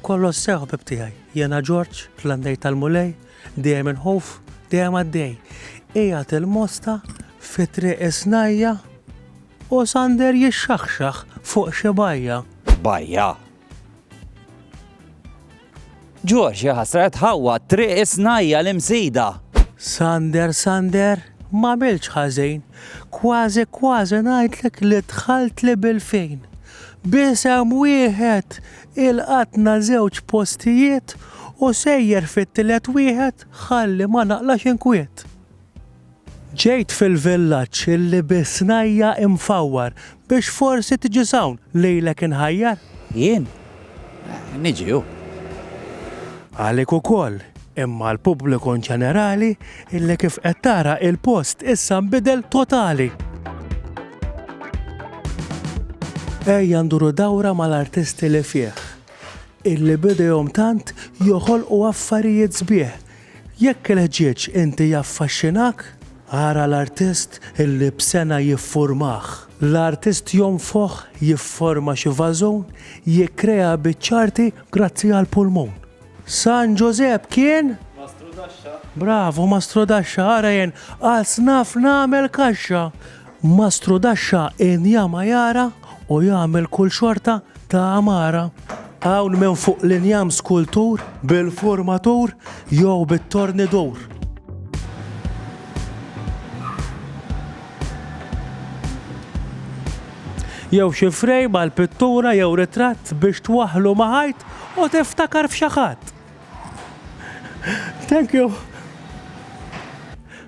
Kollox sew ħbib tiegħi, jiena Ġorġ, l-għandej tal-Mulej, dejjem inħuf, dejjem għaddej. Qiegħed il-mosta fi triq is-snajja' u Sander jixxaħxaħ fuq xi bajja. Bajja! Ġorġ jaħasret ħawwa triq is-snajja l-imsida. Sander, Sander, ma milx ħażin, kważi kważi ngħidlek li dħalt li bil-fejn. Bisem wieħed Ilqatna żewġ postijiet u sejjer fit-tielet wieħed ħalli ma naqlax inkwiet. Ġejt fil-villaġġ illi bi snajja' imfawwar biex forsi tiġi s'hawn lilek inħajjar. Jien? Niġi hu. Għalik ukoll, Imma l-pubbliku inġenerali illi kif qed tara il-post issa nbidel totali. Ejja nduru dawra mal-artisti li fih, illi b'idejhom tant joħolqu affarijiet sbieħ. Jekk il-ħġieġ inti jaffaxxinak, ara l-artist illi b'sena jiffurmah. L-artist jonfoħ, jifforma xi vażun, jikkrea biċċa arti grazzi għall-pulmun. San Ġożepp kien? Mastru Daxxa. Bravu, Mastru Daxxa, ara jen, għal snaf nagħmel kaxxa. Mastru Daxxa inja ma jara u jagħmel kull xorta ta' għamara. Hawn minn fuq l-injam skultur bil-furmatur jew bit-tornidur. Jew xi frame għal pittura jew ritratt biex twaħħlu ma' ħajt u tiftakar f'xi ħadd. Thank you.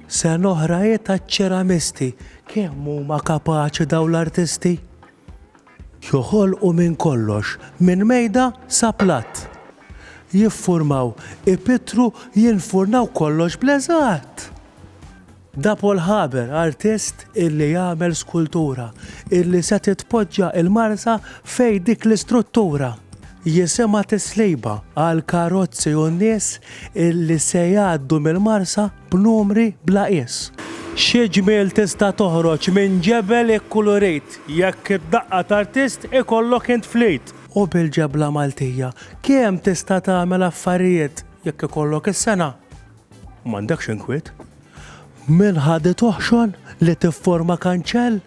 Sena oħra hi taċ-ċeramisti. Kemm huma kapaċi dawn l-artisti? Joħolqu minn kollox, minn mejda sa platt. Jiffurmaw, ipittru, jinfurnaw kollox bl-eżatt. Da Paul Haber, artist illi jagħmel skultura, illi se titpoġġa il-Marsa fejn dik l-istruttura. Jisimha tisliba għall-karozzi u n-nies illi se jgħaddu mill-Marsa b'numri bla qies. Xi ġmiel tista' toħroġ minn ġebel ikkulurit jekk id-daqqa t'artist ikollok int fl-id! U bil-ġebla Maltija kemm tista' tagħmel affarijiet jekk ikollok is-sengħa! M'għandekx inkwiet? Minn ħadd toħxon li tifforma kanċell?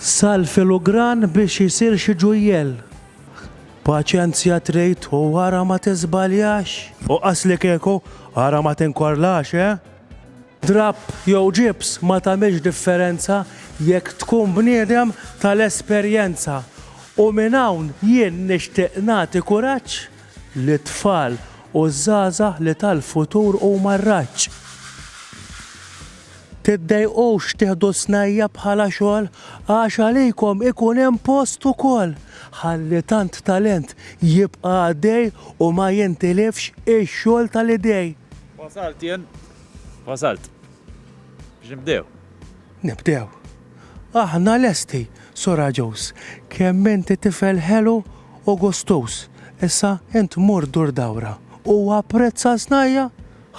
Sal filugran biex isir xi ġujjell. Paċenzja trid u ara ma tiżbaljax. U qas li kieku, ara ma tinkorlax, eh? Drapp jew ġibs ma tagħmilx differenza jekk tkun bniedem tal-esperjenza. U minn hawn jien nixtieq nagħti kuraġġ li t-tfal u ż-żgħażagħ li tal-futur huma r-raġġ. Tiddejqux tieħdu s-snajja' bħala xogħol, għax għalikom ikun hemm post ukoll, ħalli tant talent jibqa' għaddej u ma jintilifx ix-xogħol tal-idej. Wasalt jien, wasalt. Biex nibdew. Nibdew. Aħna lesti, Sura Joes. Kemm inti tifel ħelu u gustuż. Issa int mur dur dawra u apprezza s-snajja'.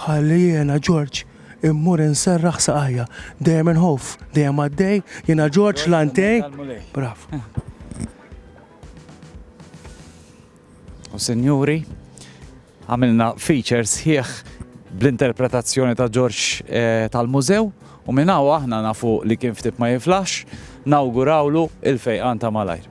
Ħalli jiena, Ġorġ, immur inserraħ saqajja. Dejjem inħoff, dejjem għaddej, jiena Ġorġ Lantej. Brav. U sinjuri, Għamilna feature sħiħ bl-interpretazzjoni ta' Ġorġ tal-Mużew u minn hawn aħna nafu li kien ftit ma jiflaħx, nawgurawlu il-fejqan ta' malajr.